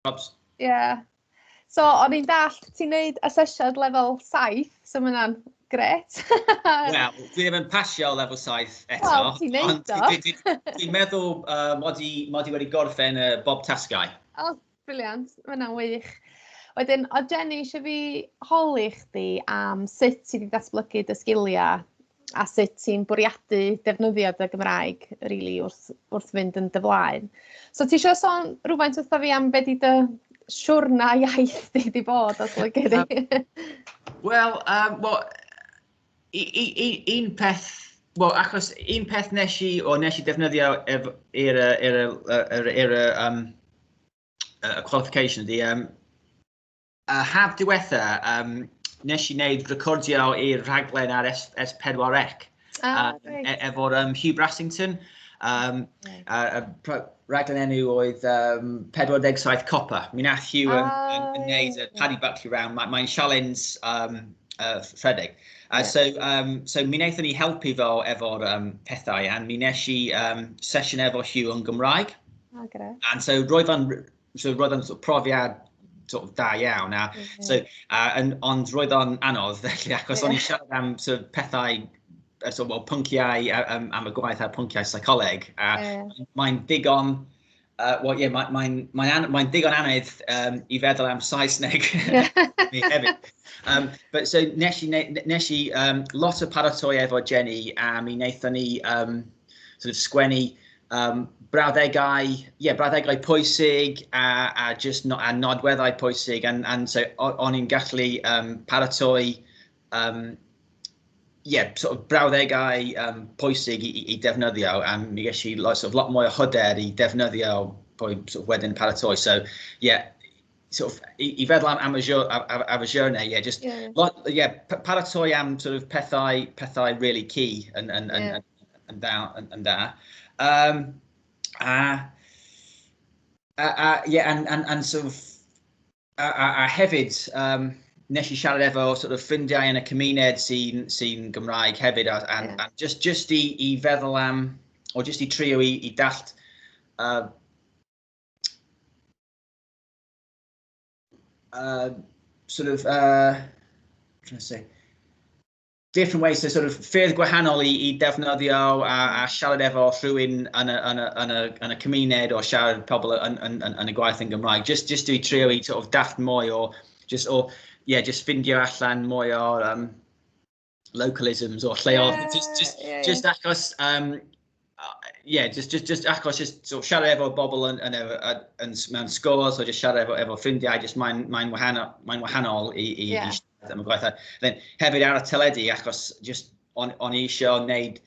Jobs. Ie. Yeah. So, o'n i'n dall, ti'n neud asesiad lefel 7, so mae hwnna'n gret. Wel, dwi ddim yn pasio lefel 7 eto. Wel, ti'n neud o. Dwi'n meddwl uh, mod i wedi gorffen y bob tasgau. O, oh, briliant. Mae hwnna'n wych. Wedyn, o Jenny, eisiau fi holi chdi am sut ti wedi datblygu dy sgiliau a sut ti'n bwriadu defnyddio dy Gymraeg really, wrth, wrth fynd yn dy flaen. So ti eisiau sôn rhywfaint wrtho fi am beth i dy siwrna iaith di wedi bod os lygu di? Wel, um, well, un peth Wel, achos un peth nes i, o nes i defnyddio i'r er, er, er, er, er, um, y qualification ydy, um, Y haf diwetha, um, nes i wneud recordio i'r rhaglen ar S4C ah, um, e efo'r um, Hugh Brassington. Um, a, a, raglen enw oedd um, 47 Copa. Mi nath Hugh yn, oh, yn, yn neud y Paddy Buckley round. Mae'n mae sialens um, uh, ffredeg. Uh, yeah. So, um, so mi wnaethon ni helpu fo efo'r um, pethau, a mi nes i um, sesiwn efo Hugh yn Gymraeg. Oh, and so roedd o'n so roedd o'n sort of profiad sort of da iawn. A, mm -hmm. so, a, yn, ond roedd o'n anodd, felly, achos yeah. o'n i'n siarad am sort of, pethau so, well, pynciau um, am y gwaith ar pynciau seicoleg. A yeah. mae'n ddigon... Uh, well, yeah, mae'n mae, mae, mae, mae digon anodd um, i feddwl am Saesneg mi hefyd. Um, but so nes i, nes i um, lot o paratoi efo Jenny a mi wnaethon ni um, sort of sgwennu um, brawddegau, yeah, brawddegau pwysig a, a just no, a nodweddau pwysig and, and so o'n i'n gallu um, paratoi um, yeah, sort of brawddegau um, pwysig i, i, i defnyddio a mi ges i lot, sort of, lot mwy o hyder i defnyddio pwy sort of, wedyn paratoi. So, yeah, sort of, i, i feddwl am, am, y, ar, ar, ar y journey, yeah, just, yeah. Lot, yeah, paratoi am sort of pethau, pethau really key yn, yn, yn, yeah. yn, yn, yn, yn, yn da. Um, a, a, a, yeah, and, and, and sort of, a, a, a hefyd, um, nes i siarad efo sort of ffrindiau yn y cymuned sy'n sy, Gymraeg hefyd, a, a, yeah. a just, just i, i feddwl am, o just i trio i, i dallt uh, uh, sort of, uh, trying to say, different ways to sort of ffyrdd gwahanol i, i defnyddio a, a siarad efo rhywun yn y, yn, y, yn, y, yn y cymuned o siarad pobl yn, yn, yn, yn y gwaith yn Gymraeg. Just, just i trio i sort of daft mwy o, just o, yeah, just ffindio allan mwy o, um, localisms or lleoedd. Yeah, just, just, yeah, yeah. just achos, um, uh, yeah, just, just, just achos just so siarad efo bobl yn, yn, yn, yn, mewn sgôl, so just siarad efo, efo ffrindiau, just mae'n mae wahanol, mae wahanol i, i, yeah. i siarad am y gwaith. Then, hefyd ar y teledu, achos just on, on i eisiau wneud,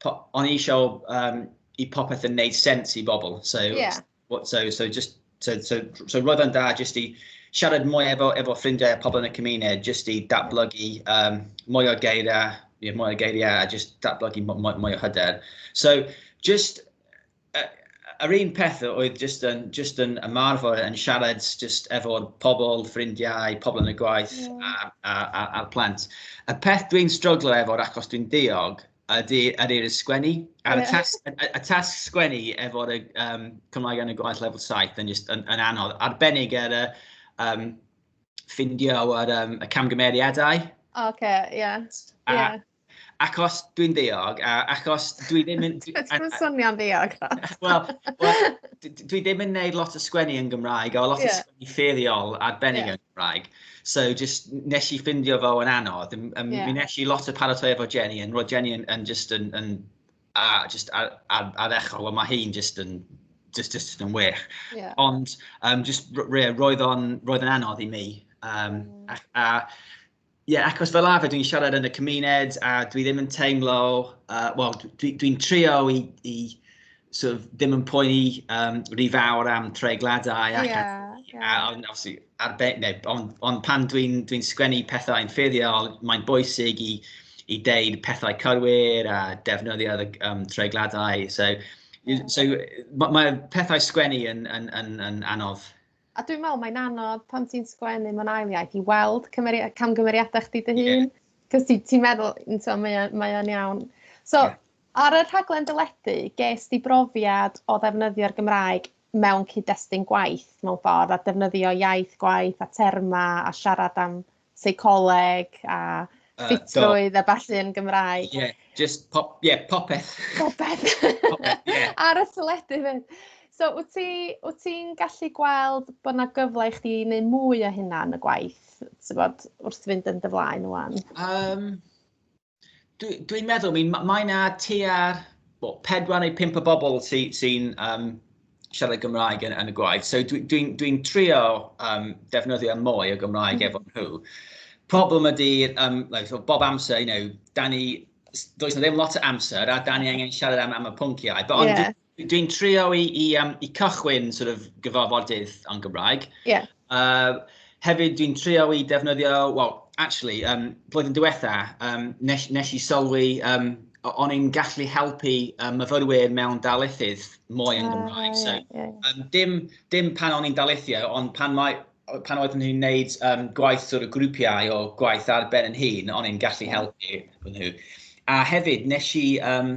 on i eisiau um, i popeth yn wneud sens i bobl. So, yeah. What, so, so just, so, so, so roedd o'n da jyst i siarad mwy efo, efo ffrindiau a pobl yn y cymuned, jyst i datblygu um, mwy o geiriau, yeah, mwy o geiriau a jyst datblygu mwy, mwy o hyder. So, just, uh, yr un peth oedd just yn, just yn ymarfer yn siarad just efo pobl, ffrindiau, pobl yn y gwaith yeah. a'r a, a, a plant. Y peth dwi'n struglo efo, achos dwi'n diog, Ydy, ydy, ydy sgwennu. Ar y tasg, y tasg sgwennu efo'r um, Cymraeg yn y gwaith level 7 yn, just, yn, yn anodd. Arbennig ar y um, ffindio ar um, y camgymeriadau. Oce, okay, ie. Yeah. Yeah. Achos dwi'n ddeog, a achos dwi ddim yn... Dwi'n swnio'n ddeog. Wel, dwi ddim yn neud lot o sgwennu yn Gymraeg, a lot yeah. o sgwennu ffeiriol arbennig yeah. yn Cymraeg. So just nes i ffindio fo yn anodd. Um, yeah. Mi nes i lot o paratoi efo Jenny, yn roedd Jenny yn, yn just yn, yn a, just ar, ar, ar echol, ond mae hi'n just yn just, just yn wych. Yeah. Ond um, just, re, roedd o'n roedd yn anodd i mi. Um, mm. a, a Ie, yeah, achos fel arfer dwi'n siarad yn y cymuned a dwi ddim yn teimlo, uh, wel, dwi'n dwi, trio i, i sort of, ddim yn poeni um, rhy fawr am treigladau ac yeah, yeah. ond obviously arbe, neu, ond, on pan dwi'n dwi, dwi sgwennu pethau yn ffurfiol, mae'n bwysig i, i deud pethau cywir a defnyddio um, treigladau. So, yeah. so mae ma pethau sgwennu yn, yn, yn, yn anodd. A dwi'n meddwl mae'n anodd pan ti'n sgwennu mewn ail iaith i weld camgymeriadau chdi dy hun. Yeah. Cos ti'n ti meddwl, so, mae, mae o'n iawn. So, yeah. ar y rhaglen dyledu, ges di brofiad o ddefnyddio'r Gymraeg mewn cyd-destun gwaith mewn ffordd a defnyddio iaith gwaith a terma a siarad am seicoleg a ffitrwydd a ballu yn Gymraeg. Ie, yeah, just pop, ie, yeah, popeth. Popeth. popeth, ie. Yeah. Ar y teledu fyd. So, wyt ti'n ti gallu gweld bod yna gyfle i chdi i wneud mwy o hynna yn y gwaith, ti'n bod, wrth fynd yn dy flaen wan? Um, Dwi'n dwi meddwl, mi, mae yna tua'r well, pedwar neu pimp o bobl sy'n sy um, siarad Gymraeg yn, yn y gwaith. So dwi'n dwi, dwi, dwi trio um, defnyddio mwy o Gymraeg mm. efo nhw. Problem ydy, um, like, bob amser, you know, da ni, does na ddim lot o amser a da ni angen siarad am, am y pwnciau. But yeah. Dwi'n trio i, i, um, i cychwyn sort of, gyfarfodydd yn Gymraeg. Yeah. Uh, hefyd dwi'n trio i defnyddio, well, actually, um, blwyddyn diwetha, um, nes, nes i sylwi, um, o'n i'n gallu helpu um, myfyrwyr mewn dalethydd mwy yn ah, Gymraeg. So, yeah, yeah. Um, dim, dim pan o'n i'n dalethio, ond pan mae pan oeddwn i'n gwneud um, gwaith sort of grwpiau o gwaith ar ben yn hun, o'n i'n gallu helpu nhw. A hefyd, nes i um,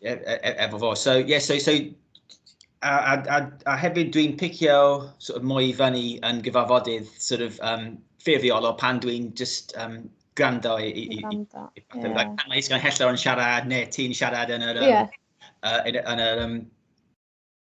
E, e, e, efo fo. So, yeah, so, so a, a, a, a hefyd dwi'n picio sort of, mwy i fyny yn gyfarfodydd sort of, um, ffurfiol o pan dwi'n just um, gwrando i... i, i, i, i yeah. like, pan mae Isgan Hellor yn siarad neu ti'n siarad yn yr... Um, yeah. uh, yn, yn yr um,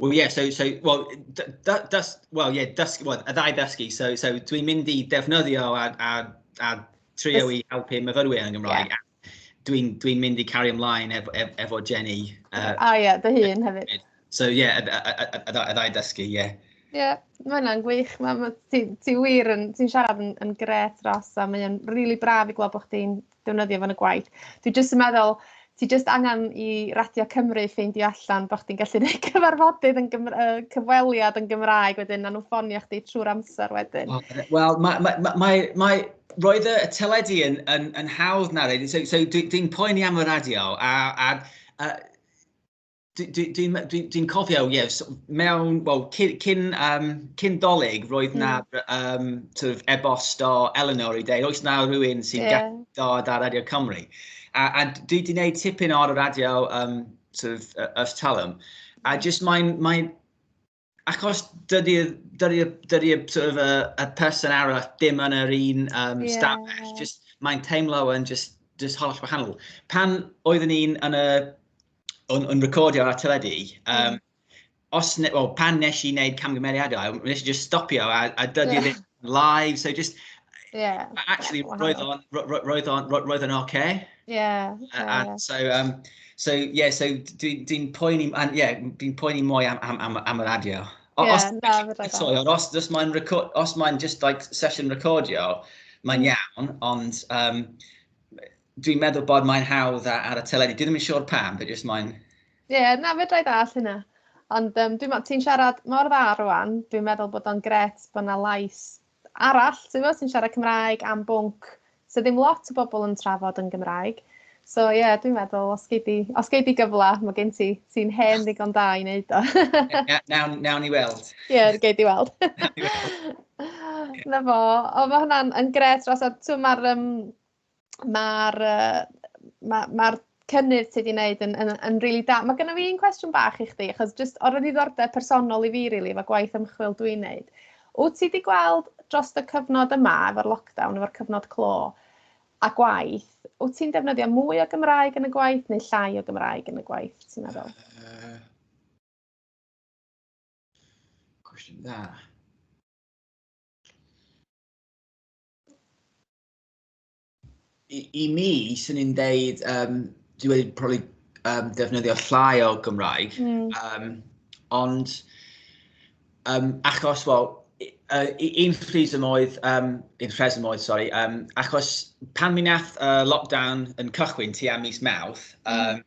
Well, yeah, so, so well, dys, well, yeah, dys, well, y ddau ddysgu. So, so dwi'n mynd i defnyddio a, a, a trio i helpu myfyrwyr yn Gymraeg. Yeah. Dwi'n dwi mynd i cario ymlaen efo, efo Jenny. Uh, a ie, yeah, dy hun hefyd. So, ie, yeah, y ddau ddysgu, ie. Yeah. Ie, yeah, mae hwnna'n gwych. Ti'n ti, ti wir yn, ti'n siarad yn, yn gret ros a mae'n rili really braf i gweld bod chdi'n defnyddio fan y gwaith. Dwi jyst yn meddwl, ti jyst angen i Radio Cymru ffeindio allan bod chdi'n gallu gwneud cyfarfodydd yn Gymra uh, cyfweliad yn Gymraeg wedyn, na nhw ffonio chdi trwy'r amser wedyn. Wel, mae, mae, mae, mae, mae roedd y teledu yn, yn, yn hawdd na reid, so, so dwi'n dwi poeni am y radio, a, a, a Dwi'n dwi, dwi, dwi, dwi cofio, ie, yes, mewn, wel, cyn, cyn, um, cyn dolyg, roedd na mm. um, sort of ebost o Eleanor i dweud, oes na rhywun sy'n yeah. dod ar Radio Cymru. A, a dwi wedi gwneud tipyn o'r radio um, sort of, uh, Earth Talum, a mm. just mae'n, mae, achos dydy'r dydy, dydy, sort of, uh, y person arall dim yn yr un um, yeah. stafell, just, mae'n teimlo yn just, just holl wahanol. Pan oeddwn ni'n yn y yn, yn recordio ar y teledu, um, mm. os ne, well, pan nes i wneud camgymeriadau, nes i just stopio a, a dydy yeah. live, so just... Yeah. Actually, yeah, roedd o'n roedd o'n roedd o'n okay. Yeah. yeah and yeah. so um so yeah, so dwi'n dwi poeni and yeah, dwi'n poeni mwy am am am, am yr adio. O, yeah, os, na, sorry, os, os mae'n record, os mae'n just like session recordio, mae'n mm. iawn, ond um, dwi'n meddwl bod mae'n hawdd ar y teledu. Dwi ddim yn siŵr pam, but just mae'n Ie, yeah, na, fedra i ddall hynna. Ond um, dwi'n meddwl, ti'n siarad mor dda rwan, dwi'n meddwl bod o'n gret bod yna lais arall, ti'n meddwl, sy'n siarad Cymraeg am bwnc, so ddim lot o bobl yn trafod yn Gymraeg. So ie, yeah, dwi'n meddwl, os gei di, os gei di gyfle, mae gen ti, ti'n hen ddigon da i wneud o. nawn, nawn i weld. Ie, yeah, gei di weld. Na fo, o mae hwnna'n gret, os mae'r um, mae'r ma, ma cynnydd ti wedi gwneud yn, yn, yn really da. Mae gennym fi un cwestiwn bach i chdi, achos just o'r ddiddordeb personol i fi, really, efo gwaith ymchwil dwi'n gwneud. Wyt ti wedi gweld dros y cyfnod yma, efo'r lockdown, efo'r cyfnod clo, a gwaith, wyt ti'n defnyddio mwy o Gymraeg yn y gwaith neu llai o Gymraeg yn y gwaith, ti'n meddwl? Uh, cwestiwn dda. I, i mi, sy'n ni'n deud, um, dwi wedi probably um, defnyddio llai o Gymraeg, mm. um, ond um, achos, wel, uh, un rheswm oedd, um, un rheswm oedd, sorry, um, achos pan mi nath uh, lockdown yn cychwyn ti am mis mawth, um, mm.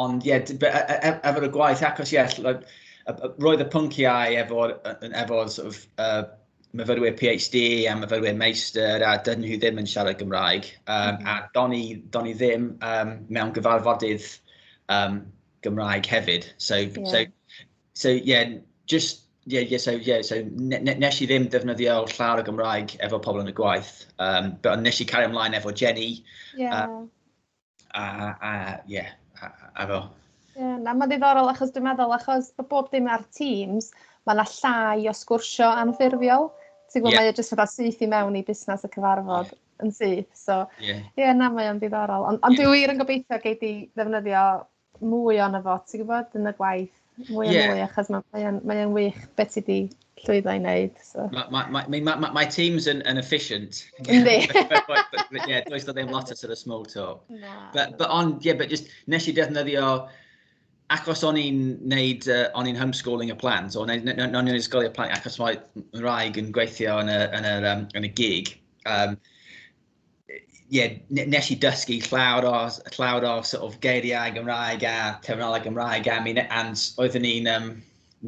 Ond ie, efo'r y gwaith, achos ie, roedd y pynciau efo'r efo, sort of, uh, myfyrwyr PhD a myfyrwyr meistr a dyn nhw ddim yn siarad Gymraeg. Um, a do'n i, don i ddim um, mewn gyfarfodydd um, Gymraeg hefyd. So, yeah. so, so yeah, just yeah, yeah, so, yeah, so ne ne nes i ddim defnyddio llawer o Gymraeg efo pobl yn y gwaith, um, but nes i cario ymlaen efo Jenny, yeah. um, A, a, ie, a fo. Ie, na, mae'n ddiddorol achos dwi'n meddwl, achos bod bob dim ar Teams, mae yna llai o sgwrsio anffurfiol. Ti'n gwybod, yeah. mae e jyst fatha syth i mewn i busnes y cyfarfod yeah. yn syth. So, ie, yeah. yeah, na, mae'n ddiddorol. Ond on yeah. dwi wir yn gobeithio gei di ddefnyddio mwy o'n efo, ti'n gwybod, yn y gwaith. Mwy yeah. a mwy, achos mae'n mae mae wych beth ti wedi llwyddo i wneud. So. Mae ma, ma, ma, ma, ma, ma teams yn, yn efficient. Yndi. Ie, does da ddim lot o sort of small talk. Na. But, but on, yeah, but just, nes i defnyddio, achos o'n i'n neud, uh, o'n i'n homeschooling y plant, o'n i'n ysgolio plant, achos mae rhaeg yn gweithio yn y, yn y, um, yn y gig, um, yeah, nes i dysgu llawr o, llawr o sort of geiriau Gymraeg a terminoleg Gymraeg am un, and oeddwn ni'n um,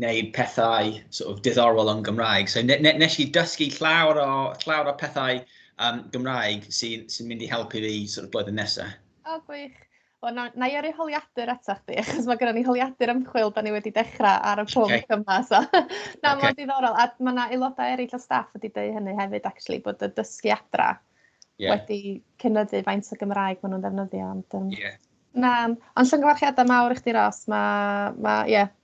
neud pethau sort of diddorol yn Gymraeg. So ne, ne, nes i dysgu llawr o, llawr o pethau um, Gymraeg sy'n sy mynd i helpu fi sort of blwyddyn nesaf. O, oh, gwych. Wel, na, na i yrru holiadur eto chdi, achos mae gennym ni holiadur ymchwil, da ni wedi dechrau ar y pwnc okay. yma. So. na, okay. mae'n diddorol. A mae yna aelodau eraill o staff wedi dweud hynny hefyd, actually, bod y dysgu adra yeah. wedi cynyddu faint o Gymraeg maen nhw'n ddefnyddio. Ond, um, yeah. Na, ond llyngyfarchiadau mawr i chdi, Ros. Mae, ma, yeah,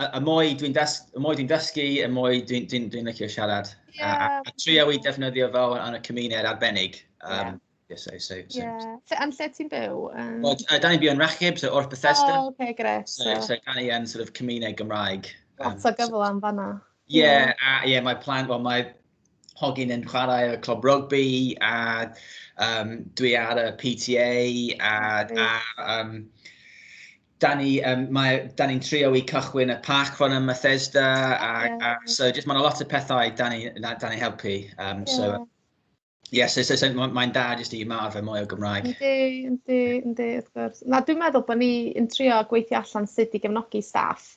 y mwy dwi'n dysgu, dysgu, y mwy dwi'n dwi, dwi licio siarad. Yeah. A, a, a trio i defnyddio fo yn y cymuned arbennig. Um, yeah. Yeah, so, so, so. Yeah. So, am lle ti'n byw? Um... Well, uh, da ni'n byw yn Rachib, so wrth Bethesda. Oh, okay, gret. So, so, so da ni yn sort of cymuned Gymraeg. Um, Lot o gyfle am fanna. Yeah, yeah. Uh, yeah, mae plan, well, mae hogyn yn chwarae y clwb rugby a um, dwi ar y PTA a, a um, da ni, um, mae, da ni'n trio i cychwyn y parc fan ym Bethesda, a, yeah. a, so just mae'n lot o pethau da ni, da ni helpu. Um, yeah. So, Yes, so, so, so mae'n da jyst i ymarfer mwy o Gymraeg. Yndi, yndi, yndi, wrth gwrs. Na, dwi'n meddwl bod ni'n trio gweithio allan sut i gefnogi staff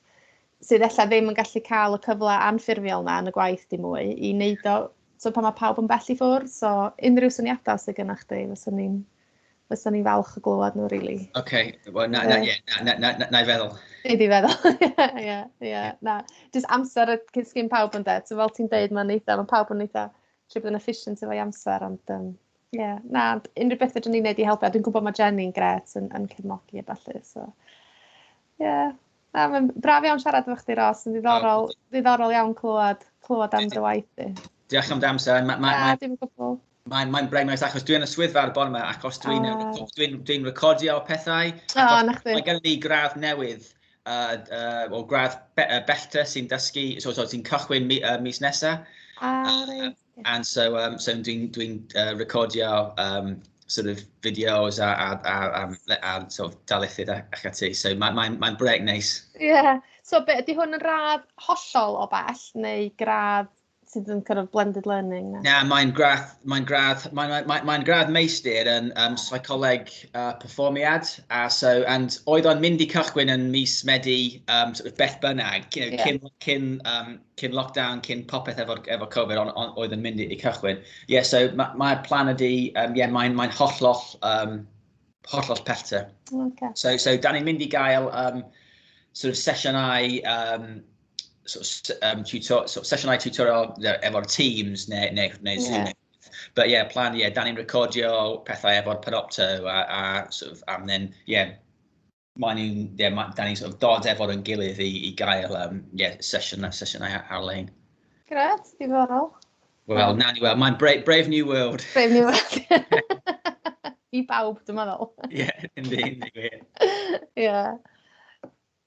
sydd efallai ddim yn gallu cael y cyfle anffurfiol na yn y gwaith di mwy i wneud o, so pan mae pawb yn bell i ffwrdd, so unrhyw syniadau sydd gennych chi, fyswn ni'n fysa ni falch o glywed nhw, really. Oce, okay. well, na, na, yeah, na, na, na, na, i feddwl. Nei di feddwl, ie, ie, na. Just amser y cysgyn pawb yn dweud, so fel ti'n dweud, mae'n eitha, mae pawb yn eitha, trwy bod yn efficient efo'i amser, ond, um, ie, yeah, na, unrhyw beth ydyn ni'n neud i helpu, a dwi'n gwybod mae Jenny'n gret yn, yn cefnogi a falle, so, ie. Yeah. Na, mae'n braf iawn siarad efo chdi, Ros, yn ddiddorol, oh. ddiddorol iawn clywed, clywed am dy waith di. Diolch am dy amser. Mae ma, ma, ma, Mae'n mae braidd nice achos dwi'n y swyddfa ar y bore yma ac os dwi'n uh, ah. dwi dwi recordio pethau, oh, mae gen i gradd newydd uh, uh, o gradd be, uh, bellter sy'n dysgu, so, so sy'n cychwyn mi, uh, mis nesaf. Ah, uh, and so, um, so dwi'n dwi uh, recordio um, sort of videos a, a, a, a, a sort of dalithydd ac ati. So mae'n mae, mae brec neis. Ie. Yeah. So be, ydy hwn yn radd hollol o bell neu gradd sydd yn kind of blended learning? Na, yeah, mae'n gradd, mae'n gradd, mae'n mae, mae, mae gradd meistr yn um, psycholeg uh, performiad, a so, and oedd o'n mynd i cychwyn yn mis Medi, um, sort of beth bynnag, you know, yeah. cyn, cyn, um, cyn lockdown, cyn popeth efo, efo Covid, on, on, oedd yn mynd i cychwyn. Ie, yeah, so mae'r ma plan ydi, um, yeah, mae'n mae hollol, um, hollol pellter. Okay. So, so, da ni'n mynd i gael um, sort of sesiynau um, so, um, tutor, so, sesiynau tutorial efo'r Teams neu, neu, neu yeah. Zoom. But yeah, plan, yeah, da ni'n recordio pethau efo'r Panopto a, a sort of, and then, yeah, mae ni'n, yeah, ma, da ni'n sort of dod efo'r yn gilydd i, i gael um, yeah, sesiwn, sesiynau ar-lein. Gret, diddorol. Wel, na ni, wel, mae'n brave, brave New World. Brave New World. I bawb, dwi'n meddwl. Ie, yeah, yndi, yndi, gwir. Ie.